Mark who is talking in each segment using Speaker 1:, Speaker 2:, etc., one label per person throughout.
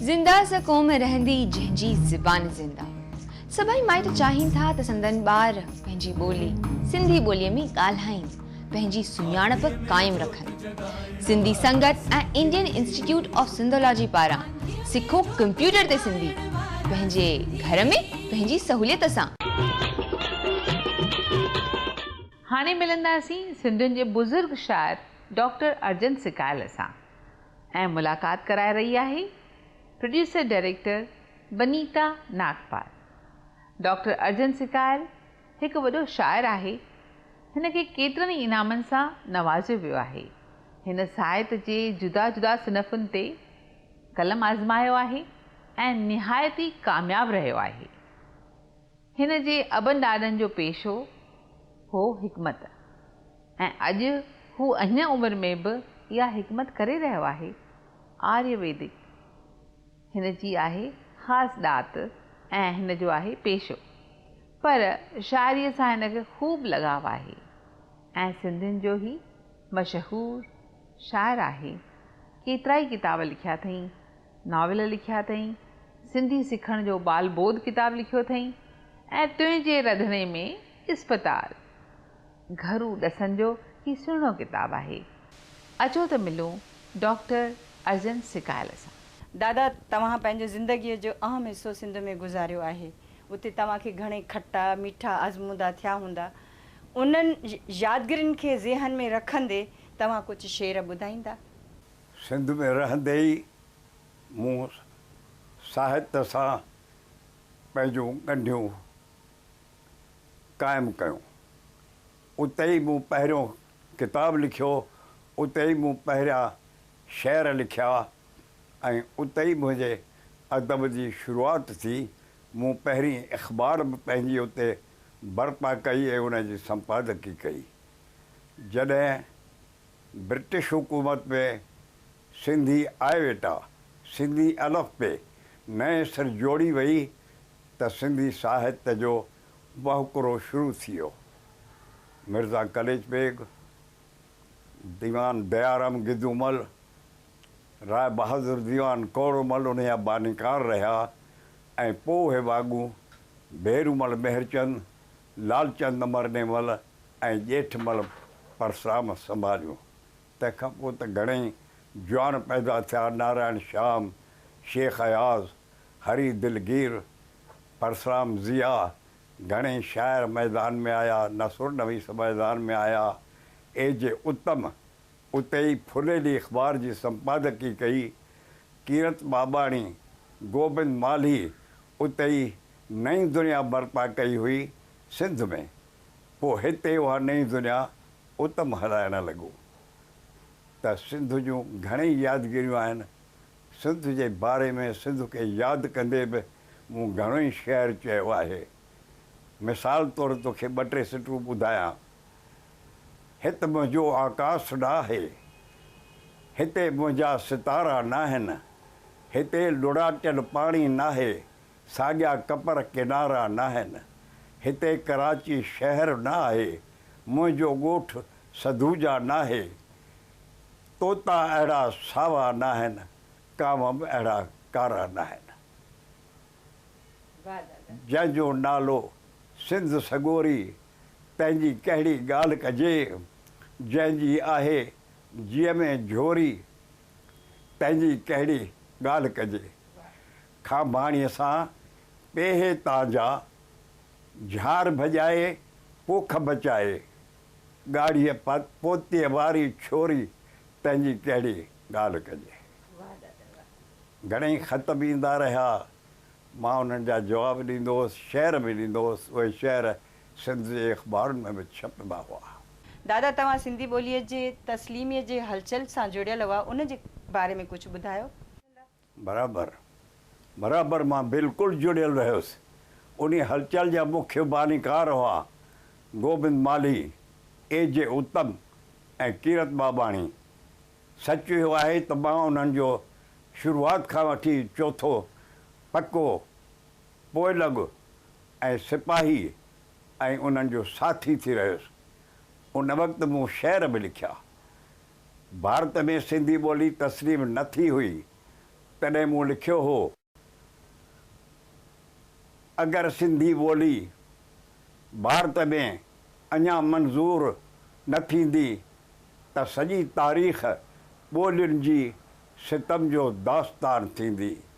Speaker 1: زنده سا قوم رهندي جنهن جي زبان زنده. سڀئي مائٽ چاهين ٿا ته سندن ٻار پنهنجي ٻولي سنڌي ٻوليء ۾ ڳالهائين، پنهنجي سڃاڻپ قائم رکن. Sindhi Sangat ۽ Indian institute of Sindhology پاران سکو ڪمپيوٽر تي سنڌي، پنهنجي گهر ۾ پنهنجي سهوليت سان.
Speaker 2: هاڻي ملنداسين سنڌين جي بزرگ شاعر ڊاڪٽر ارجن سڪايل سان. ۽ ملاقات ڪرائي رهي آهي producer director Binita Nagpal. Doctor Arjan Sikyal هڪ وڏو شاعر آهي. هن کي ڪيترن ئي انعامن سان نوازيو ويو آهي. هن ساهت جي جدا جدا صنفن تي قلم آزمايو آهي ۽ نهايت ئي ڪامياب رهيو آهي. هن جي ابن ڏاڏن جو پيشو هو حڪمت ۽ اڄ هو اهڃ عمر ۾ به اها حڪمت ڪري رهيو آهي. آريه ويدڪ هن جي آهي خاص ڏات ۽ هن جو آهي پيشو. پر شاعريء سان هن کي خوب لڳاء آهي ۽ سنڌين جو هي مشهور شاعر آهي. ڪيترائي ڪتاب لکيا اٿئين. ناول لکيا اٿئي، سنڌي سکڻ جو ٻال ٻوڌ ڪتاب لکيو اٿئي ۽ تنهنجي رڌڻي ۾ اسپتال گهرو ڏسن جو هي سهڻو ڪتاب آهي. اچو ته ملون ڊاڪٽر ارجن سڪايل سان. دادا توهان
Speaker 3: پنهنجي زندگيء جو اهم حصو سنڌ ۾ گذاريو آهي. اتي توهان کي گهڻي کٽا ميٺا آزمودا ٿيا هوندا. انهن يادگرين کي ذهن ۾ رکندي توهان ڪجهه شعر ٻڌائيندا؟ سنڌ
Speaker 4: ۾ رهندي ئي مون ساهت سان پنهنجون ڳنڍيون قائم ڪيون. اتي ئي مون پهريون ڪتاب لکيو، اتي ئي مون پهريان شعر لکيا ۽ اتي ئي منهنجي ادب جي شروعات ٿي. مون پهرين اخبار به پنهنجي اتي برپا ڪئي ۽ ان جي سمپادڪي ڪئي. جڏهن برٽش حڪومت ۾ سنڌي آئيويٽا، سنڌي الف بي، نئين سر جوڙي وئي ته سنڌي ساهت جو وهڪرو شروع ٿي ويو. مرزا قليچ بيگ، ديوان ديارام گدومل، راء بهادر ديوان ڪورمل انهيء جا بانيڪار رهيا ۽ پوء اهي واڳون ڀيرومل مهرچند، لالچند مرنيمل ۽ ڄيٺمل پرسرام سنڀاليون. تنهن کان پوء ته گهڻي ئي جوان پيدا ٿيا، نارائڻ شيام، شيخ اياز، هري دلگير، پرسرام ضياء، گهڻي ئي شاعر ميدان ۾ آيا، نثرنويس ميدان ۾ آيا. اي جي اتم اتي ئي ڦليلي اخبار جي سمپادڪي ڪئي. ڪيرت ٻاٻاڻي، گوبند مالهي، اتي ئي نئين دنيا برپا ڪئي هئي سنڌ ۾، پوء هتي اها نئين دنيا اتم هلائڻ لڳو ته سنڌ جون گهڻيئي يادگيريون آهن، سنڌ جي باري ۾ سنڌ کي ياد ڪندي به مون گهڻوئي شعر چيو آهي، مثال طور توکي ٻه ٽي سٽون ٻڌايان، هت منهنجو آڪاس ڊاهه، هتي منهنجا ستارا ناهن، هتي لڙاٽيل پاڻي ناهي، ساڳيا ڪپر ڪنارا ناهن. هتي ڪراچي شهر نه آهي، منهنجو ڳوٺ سڌوجا ناهي. طوطا اهڙا ساوا ناهن، ڪانوب اهڙا ڪارا ناهن. جنهن جو نالو سنڌ سڳوري، تنهن جي ڪهڙي ڳالهه ڪجي. جنهن جي آهي جيء ۾ جهوري، تنهنجي ڪهڙي ڳالهه ڪجي. کانڀاڻيء سان پيهي تان جا، جهار ڀڄائي پوک بچائي، ڳاڙهيء پوتيء واري ڇوري تنهنجي ڪهڙي ڳالهه ڪجي. گهڻئي خط به ايندا رهيا، مان انهن جا جواب ڏيندو هوس، شعر به ڏيندو هوس، اهي شعر سنڌ جي اخبارن ۾ به ڇپبا هئا. دادا توهان
Speaker 3: سنڌي ٻوليء جي تسليميء جي هلچل سان جڙيل هئا ان جي باري ۾ ڪجهه ٻڌايو. برابر
Speaker 4: برابر مان بلڪل جڙيل رهيس انهي هلچل جا مکيه بانيڪار هئا گوبند مالهي، اي جي اتم ۽ ڪيرت ٻاٻاڻي. سچ اهو آهي ته مان انهن جو شروعات کان وٺي چوٿو پڪو پوء لڳ ۽ سپاهيء ۽ انهن جو ساٿي ٿي رهيس. ان وقت مون شعر به لکيا. ڀارت ۾ سنڌي ٻولي تسليم نه ٿي هئي، تڏهن مون لکيو هو، اگر سنڌي ٻولي ڀارت ۾ اڃا منظور نه ٿيندي ته سڄي تاريخ ٻولين جي ستم جو داستان ٿيندي.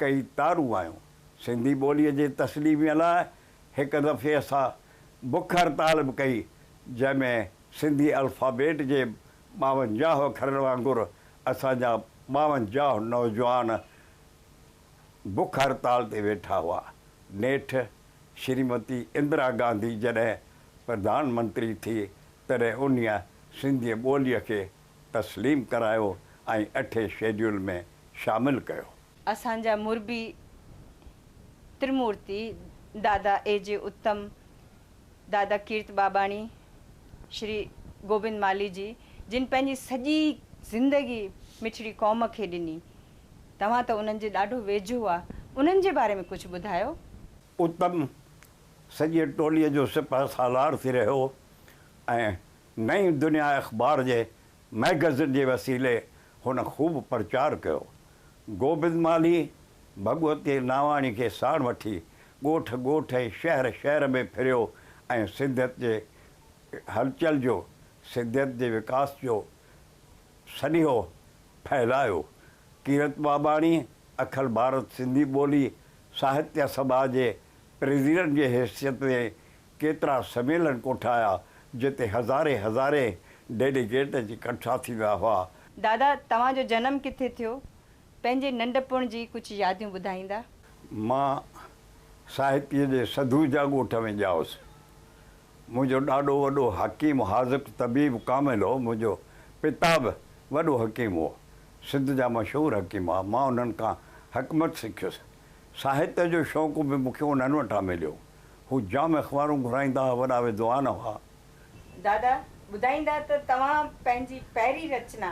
Speaker 4: ڪئي تارون آيون. سنڌي ٻوليء جي تسليميء لاء هڪ دفعي اسان بک هڙتال به ڪئي، جنهن ۾ سنڌي الفابيٽ جي ٻاونجاهه اکرن وانگر اسان جا ٻاونجاهه نوجوان بک هڙتال تي ويٺا هئا. نيٺ شريمتي اندرا گانڌي جڏهن پرڌان منتري ٿي، تڏهن انهيء سنڌيء ٻوليء کي تسليم ڪرايو ۽ اٺين شيڊيول ۾ شامل ڪيو. اسان جا مربي
Speaker 3: ترمورتي دادا اي جي اتم، دادا ڪيرت ٻاٻاڻي، شري گوبند مالهي جي جن پنهنجي سڄي زندگي مٺڙي قوم کي ڏني توهان ته انهن جي ڏاڍو ويجهو هئا انهن جي باري ۾ ڪجهه ٻڌايو. اتم
Speaker 4: سڄي ٽولي جو سپهه سالار ٿي رهيو ۽ نئين دنيا اخبار جي مئگزين جي وسيلي هن خوب پرچار ڪيو. گوبند مالهي، ڀڳوتي ناواڻي کي ساڻ وٺي ڳوٺ ڳوٺ ۽ شهر شهر ۾ ڦريو ۽ سنڌيت جي هلچل جو، سنڌيت جي وڪاس جو سنيهو ڦهلايو. ڪيرت ٻاٻاڻي، اکل ڀارت سنڌي ٻولي ساهتيه سڀا جي پريزيڊنٽ جي حيثيت ۾ ڪيترا سميلن ڪوٺايا، جنهن تي هزارين هزارين ڊيليگيٽ اچي ڪٺا ٿيندا هئا. دادا، توهان جو
Speaker 3: جنم ڪٿي ٿيو؟ پنهنجي ننڍپڻ جي ڪجهه ياديون ٻڌائيندا؟ مان
Speaker 4: ساهتيء جي سڌوجا ڳوٺ ۾ ڄائوس. منهنجو ڏاڏو وڏو حڪيم، حاذق، طبيب، ڪامل هو. منهنجو پتا به وڏو حڪيم هو. سنڌ جا مشهور حڪيم هئا. مان انهن کان حڪمت سکيس. ساهت جو شوق به مون کي انهن وٽان مليو. هو جام اخبارون گهرائيندا ها، وڏا ودوان هئا. دادا
Speaker 3: ٻڌائيندا ته توهان پنهنجي پهرين رچنا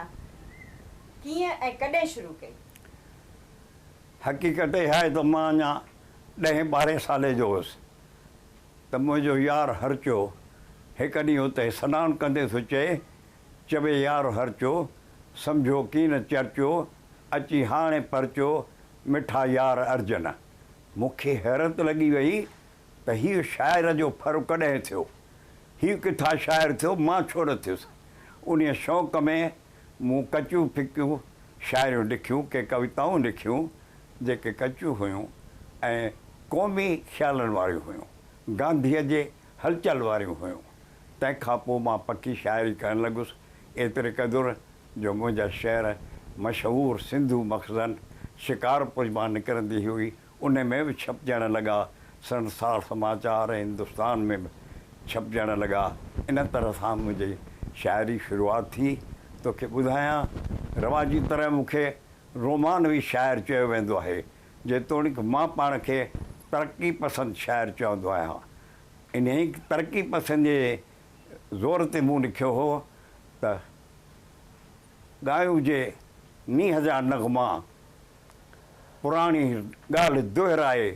Speaker 3: ڪيئن ۽ ڪڏهن شروع ڪئي؟ حقيقت
Speaker 4: اها آهي ته مان اڃا ڏهين ٻارهين سالي جو هوس ته منهنجو يار هرچو هڪ ڏينهن اتي سنان ڪندي ٿو چئي، چوي يار هرچو، سمجهو ڪين چرچو، اچي هاڻي پرچو، مٺا يار ارجن. مون کي حيرت لڳي ويئي ته هيء شاعر جو ڦر ڪڏهن ٿيو؟ هيء ڪٿان شاعر ٿيو، مان ڇو نه ٿيس؟ انهيء شوق ۾ مون ڪچيون ڦڪيون شاعريون لکيون، ڪي ڪويتائون لکيون، جيڪي ڪچيون هيون ۽ قومي خيالن واريون هيون، گانڌيء جي هلچل واريون هيون. تنهن کان پوء مان پڪي شاعري ڪرڻ لڳس، ايتريقدر جو منهنجا شعر مشهور سنڌو مخزن شڪارپور مان نڪرندي هئي، انهي ۾ به ڇپجڻ لڳا، سنسار سماچار ۽ هندستان ۾ به ڇپجڻ لڳا. ان طرح سان منهنجي شاعري شروعات ٿي. توکي ٻڌايان، رواجي طرح مون کي رومانوي شاعر چيو ويندو آهي، جيتوڻيڪ مان پاڻ کي ترقي پسند شاعر چوندو آهيان. انهي ترقي پسنديء زور تي مون لکيو هو ته. ڳايون جي نينهن جا نغما پراڻي ڳالهه دهرائي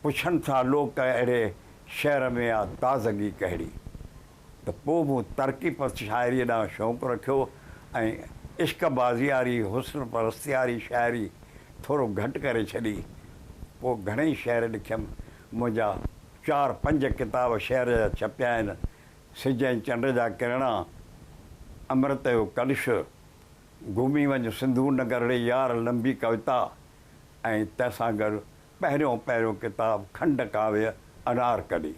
Speaker 4: پڇن ٿا لوڪ اهڙي شعر ۾ آ تازگي ڪهڙي؟ ته پوء مون ترقي پسند شاعريء ڏانهن شوق رکيو ۽ عشق بازياري، حسن پرستياري شاعري ٿورو گهٽ ڪري ڇڏي. پوء گهڻئي شعر لکيم. منهنجا چار پنج ڪتاب شعر جا ڇپيا آهن. سج ۽ چنڊ جا ڪرڻا، امرت جو ڪلش، گهمي وڃ سنڌو نگر ري يار لنبي ڪويتا ۽ تنهن سان گڏ پهريون پهريون ڪتاب کنڊ ڪاويه انارڪلي.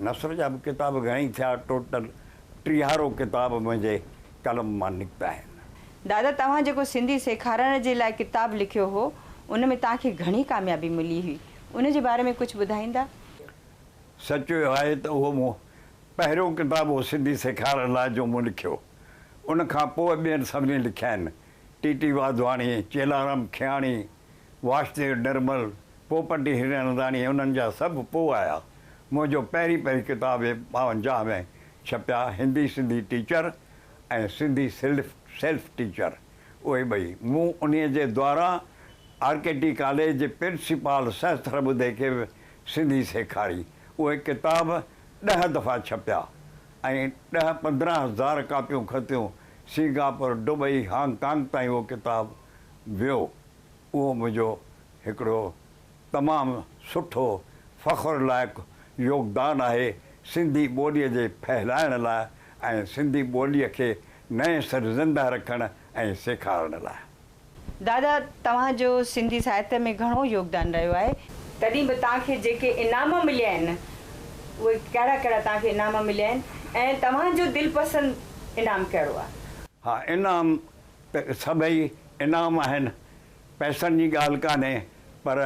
Speaker 4: نثر جا به ڪتاب گهڻئي ٿيا، ٽوٽل ٽيهارو ڪتاب منهنجي قلم مان نڪتا آهن. دادا توهان جيڪو
Speaker 3: سنڌي سيکارڻ جي لاء ڪتاب لکيو هو، ان ۾ توهان کي گهڻي ڪاميابي ملي هئي، ان جي باري ۾ ڪجهه ٻڌائيندا؟ سچ
Speaker 4: اهو آهي ته اهو مون پهريون ڪتاب هو سنڌي سيکارڻ لاء جو مون لکيو. ان کان پوء ٻين سڀني لکيا آهن، ٽي ٽي واڌواڻي، چيلارام کياڻي، واشديو نرمل، پوپٽي هرننداڻي انهن جا سڀ پوء آيا. منهنجو پهرين پهرين ڪتاب اهي ٻاونجاهه ۾ ڇپيا، هندي سنڌي ٽيچر ۽ سنڌي سلف سيلف ٽيچر اهي ٻئي مون انهيء جي دواران آر ڪي ٽي ڪاليج جي پرنسپال سهستر ٻڌي کي سنڌي سيکاري. اهي ڪتاب ڏهه دفعا ڇپيا ۽ ڏهه پندرهن هزار ڪاپيون کتيون. سنگاپور، دبئي، هانگ ڪانگ تائين اهو ڪتاب ويو. اهو منهنجو هڪڙو تمام سٺو فخر لائق يوگدان آهي سنڌي ٻوليء جي ڦهلائڻ لاء ۽ سنڌي ٻوليء کي نئين سر زنده رکڻ ۽ سيکارڻ لاء. دادا
Speaker 3: توهان جو سنڌي ساهتيه ۾ گهڻو يوگدان رهيو آهي. تڏهن به توهان کي جيڪي انعام مليا آهن اهي ڪهڙا ڪهڙا توهان کي انعام مليا آهن ۽ توهان جو دلپسند انعام ڪهڙو آهي؟ ها انعام
Speaker 4: ته سڀئي انعام آهن پئسن جي ڳالهه ڪانهي پر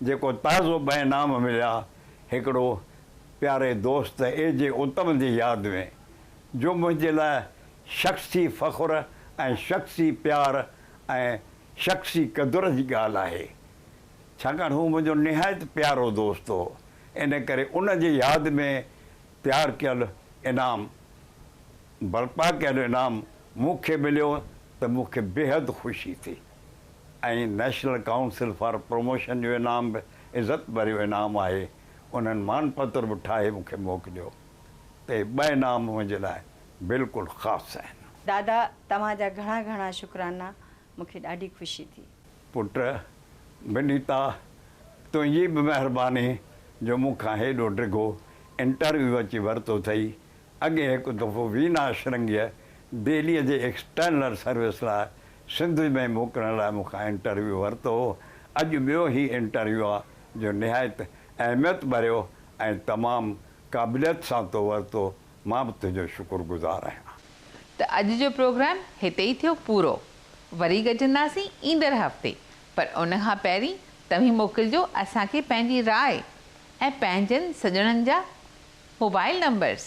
Speaker 4: جيڪو تازو ٻه انعام مليا هڪڙو پياري دوست اي جي اتم جي ياد ۾ جو منهنجي لاء شخصي فخر ۽ شخصي پيار ۽ شخصي قدر جي ڳالهه آهي، ڇاڪاڻ هو منهنجو نهايت پيارو دوست هو، ان ڪري ان جي ياد ۾ تيار ڪيل انعام، برپا ڪيل انعام مون کي مليو ته مون کي بيحد خوشي ٿي ۽ نيشنل ڪائونسل فار پروموشن جو انعام به عزت ڀريو انعام آهي، انهن مان پتر به ٺاهي مون کي موڪليو ته اهي ٻه انعام منهنجي لاء بلڪل خاص آهن. دادا توهان
Speaker 3: جا گهڻا گهڻا شڪرانا مونکي ڏاڍي خوشي ٿي. پٽ
Speaker 4: ونيتا تنهنجي به مهرباني جو مون کان هيڏو ڊگهو انٽرويو اچي ورتو ٿئي اڳي هڪ دفعو وينا اشرنگيء دهليء جي ايڪسٽرنل سروس لاء سنڌ ۾ موڪلڻ لاء مون کان انٽرويو ورتو هو اڄ ٻيو هي انٽرويو آ جو نهايت اهميت ڀريو ۽ تمام قابليت سان تو ورتو مان به تنهنجو شڪر گذار آهيان. ته اڄ جو
Speaker 2: پروگرام هتي ئي ٿيو پورو. وري گڏجنداسين ايندڙ هفتي پر ان کان پهرين توهين موڪلجو اسان کي پنهنجي راء ۽ پنهنجن سڄڻن جا موبائل نمبرس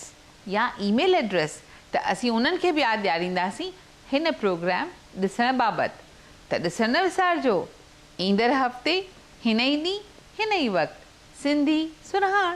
Speaker 2: يا اي ميل ايڊريس ته اسين انهن کي به ياد ڏيارينداسين هن پروگرام ڏسڻ بابت ته ڏسڻ نه وسارجو ايندڙ هفتي هن ئي ڏينهن هن ئي وقت سنڌي سرهاڻ.